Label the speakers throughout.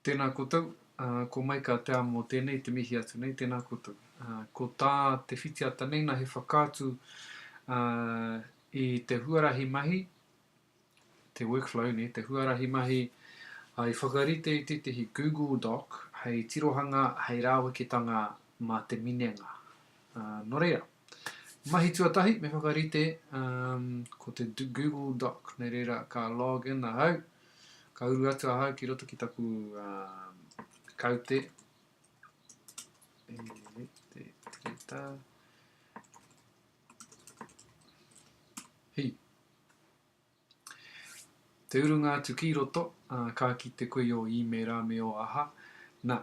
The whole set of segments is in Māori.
Speaker 1: Tēnā koutou, ko Maika Te Amo tēnei te mihi atu nei, tēnā koutou. Ko tā te whitiata nei na he whakaatu i te huarahi mahi, te workflow nei, te huarahi mahi i whakarite i tētehi Google Doc hei tirohanga, hei rāweketanga mā te minenga. Nō reira, mahi tuatahi me whakarite ko te Google Doc. Nō reira, ka log in ahau, ka uru atu ahau ki roto ki taku kaute. E te tireta. Hei. Te urunga atu ki roto, ā, ka kite koe i ō īmēra me ō aha, nā,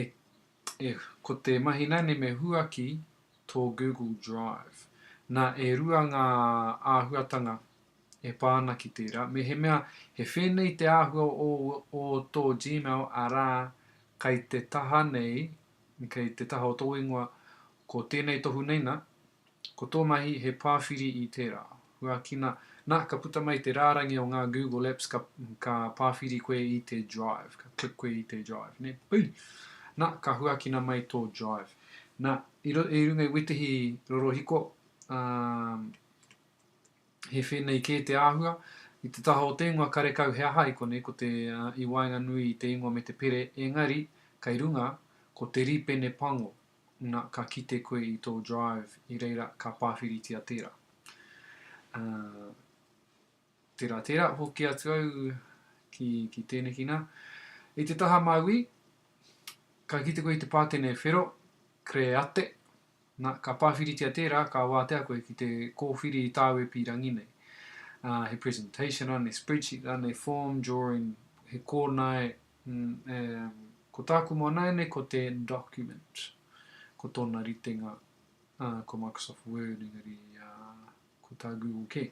Speaker 1: e, e, ko te mahi nāne me huaki tō Google Drive. Nā, e rua ngā āhuatanga e pā ana ki tērā, mehemea he whēnei te āhua o, o tō Gmail, arā, kei te taha nei, kei te taha o tō ingoa, ko tēnei tohu nei nā, Ko tō mahi he pāwhiri i tērā. Huakina, nā, ka puta mai te rārangi o ngā Google Apps ka, ka pāwhiri koe i te Drive, ka click koe i te Drive, nē? Ui! Nā, ka huakina mai tō Drive. Nā, i, ro, i runga i wetihi rorohiko, ā, he whēnei kē te āhua, i te taha o te ingoa karekau he aha i konei, ko te, ā, i waenganui i te ingoa me te pere, engari, kei runga, ko te rīpene pango. na ka kite koe i tō drive i reira ka pāwhiritia tērā. Uh, tērā, tērā, hoki atu au ki, ki tēneki nā. I te taha māui, ka kite koe i te pātene whero, create, na, ka pāwhiritia tērā, ka wātea koe ki te kōwhiri i tāu e pīrangi nei. Uh, he presentation rānei, spreadsheet rānei, form, drawing, he kōnae, Umm, ko tāku moa nāianei ko te document, ko tōna ritenga, ah, ko Microsoft Word engari, ah, ko tā Google kē.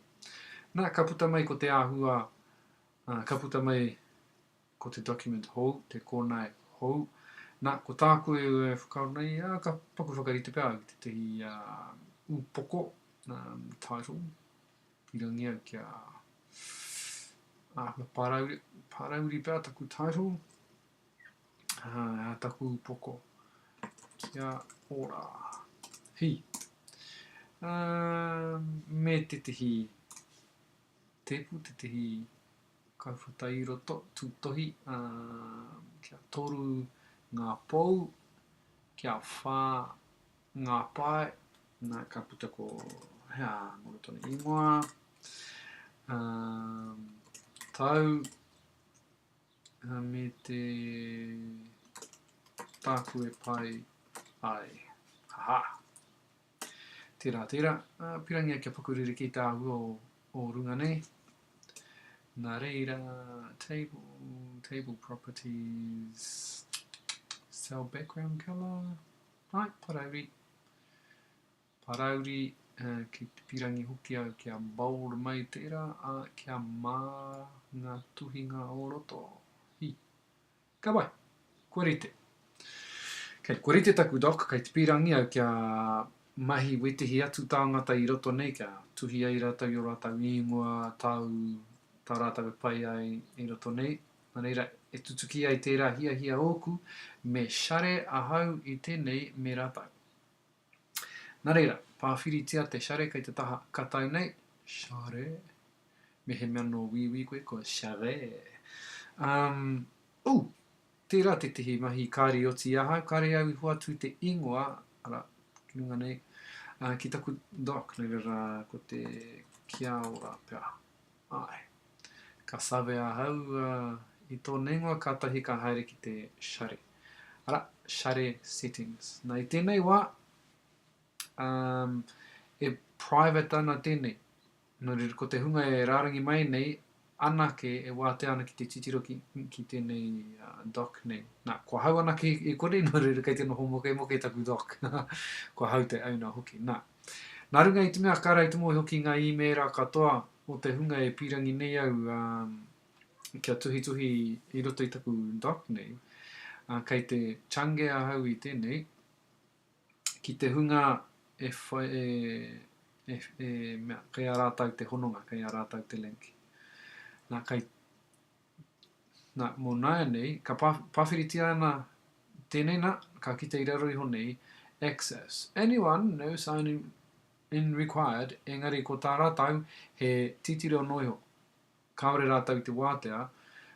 Speaker 1: Nā, ka puta mai ko te āhua, ah, ka puta mai ko te document hou, te kōnae hou. Nā, ko tāku e whakaaro nei, ah, ka paku whakarite pea au ki tētahi, ah, upoko, umm, title, Pirangia kia āhua pārauri, pārauri pea taku title, ā taku poko. Kia ora. Hi. Uh, me te tehi tepu, te tehi kauwhata i roto, tūtohi, uh, kia toru ngā pou, kia whā Ngā pae, nā, ka puta ko, hea, momo tonu ingoa, umm, tau, ā, me te, tāku e pai ai, ha ha. Tērā, tērā, ā, pirangia kia paku rerekē te āhua o, o runga nei. Nā reira, table, table properties, cell background colour, Right, Parauri. Parauri, eh, ki te pirangi hoki au kia bold mai tērā, ā, kia mā ngā tuhinga o roto. Hi. Ka pai. Kua rite. Kei, kua rite taku doc, kei te pirangi au kia mahi wetihi atu tāngata i roto nei kia tuhi ai rātou i o rātou īngoa, tau, tā rātou e pai ai i roto nei. Nō reira, e tutuki ai tērā hiahia ōku, me share ahau i tēnei me rātou. Nā reira, pāwhiritia te share kei te taha katau nei, share, mehemea nō wīwī koe ko share. Um, ū, tērā tētehi mahi kāri oti i ahau, kāre au i hoatu te ingoa, ara, ki runga nei, uh, ki taku doc, nā reira ko te kia ora pea. Āe. Ka save ahau, ā, i tō neingoa kātahi ka haere ki te share, arā, share settings. Nā, i tēnei wā, um, e private ana tēnei. Nō reira, ko te hunga e rārangi mai nei, anake e wātea ana ki te titiro ki, ki tēnei uh, doc nei. Nā, kua hau anake i, i konei, nō reira, kei te noho mokemoke taku doc. kua hau te owner hoki. Nā, Nā runga i te mea ka raitomo iho ki ngā īmēra katoa o te hunga e pīrangi nei au kia tuhituhi i roto i taku doc nei, kei te change ahau i tēnei, ki te hunga e whai, e, e, e mea, kei a rātou te hononga, kei a rātou te link. Nā, kei Nā, mō nāianei, ka pā, pāwhiritia ana tēnei, nā, ka kite i raro iho nei, access. Anyone, no sign in, in required, engari ko tā rātou he titiro noa iho. Kāore rātou i te wātea,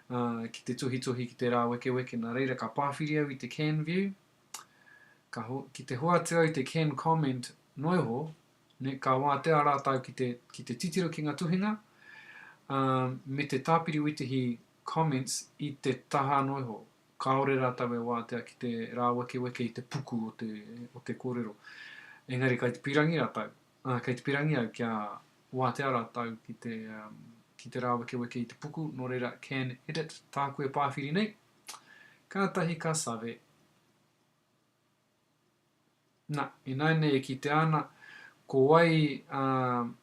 Speaker 1: ā, ki te tuhituhi, ki te rāwekeweke, nā reira ka pāwhiri au i te can view, ka, ki te hoatu au i te can comment noa iho, Nei, ka wātea rātou ki te, ki te titiro ki ngā tuhinga, ā, me te tāpiri witihi, comments, i te taha anō iho. Kāore rātou e wātea ki te rāwekeweke i te puku o te, o te kōrero. Engari kei te pīrangi rātou, ā, kei te pīrangi au kia wātea rātou ki te, ā, ki te rāwekeweke i te puku, nō reira, can edit, tāku e pāwhiri nei. Kātahi ka save. Na, ināianei e kitea ana, ko wai a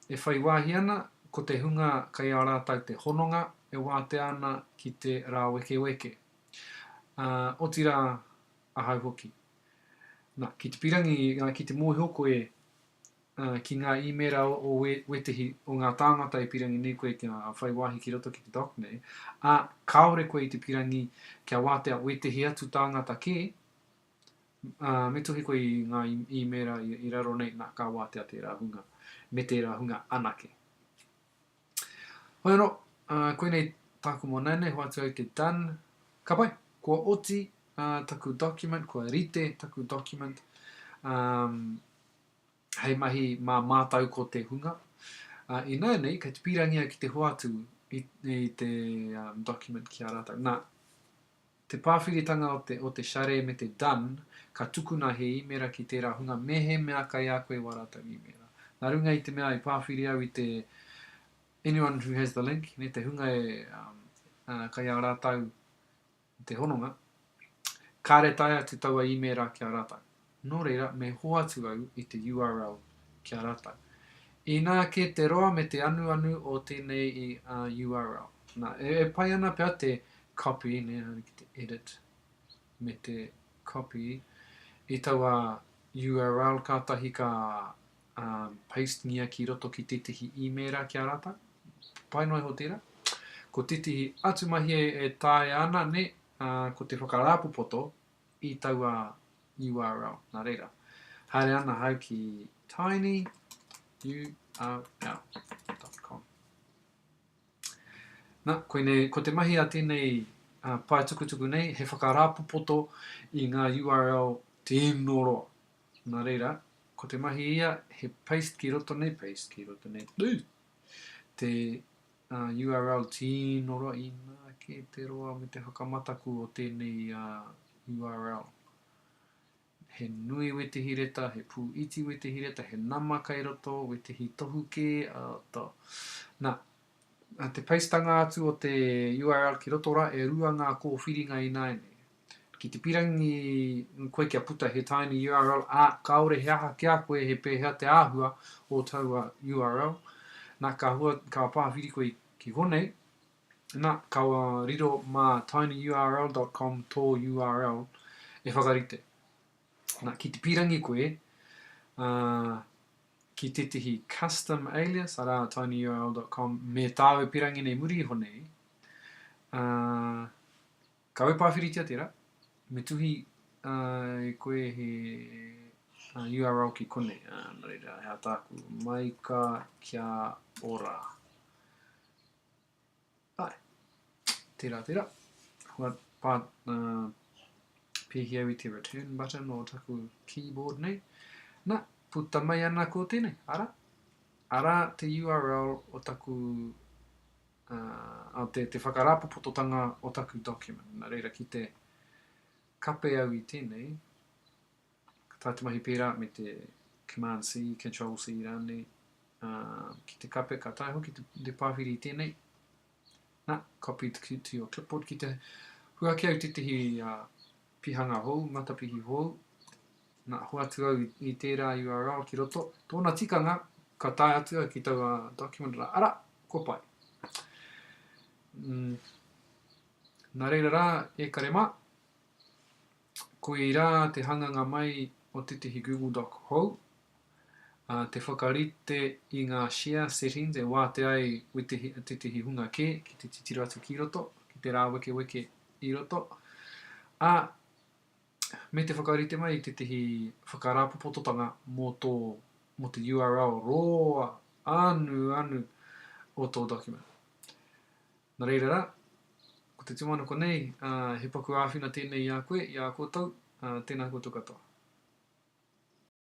Speaker 1: e whai wāhi ana, ko te hunga kei a rātou te hononga e wātea ana ki te rāwekeweke, ā, otirā, ahau hoki. Na, ki te pirangi, ā, ki te mōhio koe, ā, ki ngā īmēra o we, wētehi o ngā tāngata e pirangi nei koe kia whai wāhi ki roto ki te doc nei, ā, kāore koe i te pirangi kia wātea wētehi atu tāngata kē, Ā, me tohe koe i ngā īmēra i raro nei, nā, ka wātea tērā hunga, me tērā hunga anake. Hoi anō, ā, koinei tāku mō nāianei, hoatu au te done. Ka pai, kua oti, ā, taku document, kua rite taku document, ā, hei mahi mā mātau ko te hunga. Ā, i nāianei, kei te pīrangi au ki te hoatu i, i te, ā, document ki a rātau. Nā. Te pāwhiritanga o te o te share me te done ka tukuna he īmera ki tērā hunga mehemea kai a koe wā rātou īmera. Nā runga i te mea i pāwhiri au i te anyone who has the link, ne, te hunga e um, uh, kai ā rātou te hononga, kāre tae atu taua īmera ki a rātou. Nō reira, me hoatu au i te url ki a rātou. Inā kē te roa me te anuanu o tēnei url. Nā, e pai ana pea te copy, nē, haere ki te edit, me te copy i taua url kātahi ka paste-ngia ki roto ki tētehi īmēra ki a rātou. Pai noa iho tērā. Ko tētehi atu mahi e taea ana, nē, ko te whakarāpopoto i taua url. Nā reira, haere ana ahau ki tinyurl.com. Nā, koinei, ko te mahi a tēnei uh, pae tukutuku nei, he whakarāpopoto i ngā URL tino roa. Nā reira, ko te mahi ia, he paste ki roto nei, paste ki roto nei, Ui! te URL Tino raina ake te roa me te whakamataku o tēnei URL. He nui wetihi reta, he pū iti wetihi reta, he nama kai roto, wetihi tohu kē, to. Na, te peistanga atu o te URL ki roto ra, e rua ngā kōwhiringa ināianei. Ki te pirangi koe kia puta he tiny url, ā, kāore he aha ki a koe he pēhea te āhua o taua url. Nā, ka hua, ka pāwhiri koe ki konei, nā, ka riro mā tinyurl.com tō url e whakarite. Nā, ki te pirangi koe, ā, ki tētehi custom alias, arā, tinyurl.com, me tāu e pirangi nei muri iho nei, ā, Kawe pāwhiritia tērā, me tuhi ai koe he URL ki konei, ā, nō reira, he ataku, Maika kia ora. Āe, tērā, tērā. Kua pā, ā, pēhi au i te return button o taku keyboard nei. Nā, puta mai ana ko tēnei, arā, arā te URL o taku te, te whakarāpopototanga o taku document. Nā reira, ki te kape au i tēnei, ka tā te mahi pērā me te Command-C, Control-C rānei, uh, ki te kape, ka tae hoki te, te pāwhiri i tēnei, nā, copy to, to your clipboard, ki te huaki au tētehi uh, Pihanga hou, matapihi hou, na, hoatu au i tērā URL ki roto. Tōna tikanga, ka tae atu au ki taua document rā, ara, kua pai. Mm. Nā reira rā, e kare mā, koirā te hanganga mai o tētehi Google Doc hou, ā, te whakarite i ngā share settings e wātea ai wetihi, tētehi hunga kē ki te titiro atu ki roto, ki te rāwekeweke i roto, ā, me te whakarite mai i tētehi whakarāpopototanga mō tō, mō te URL roa anu anu o tō document. Nā reira rā, ko te tūmanako nei, ā, he paku āwhina tēnei i a koe, i a koutou, ā, tēnā koutou katoa.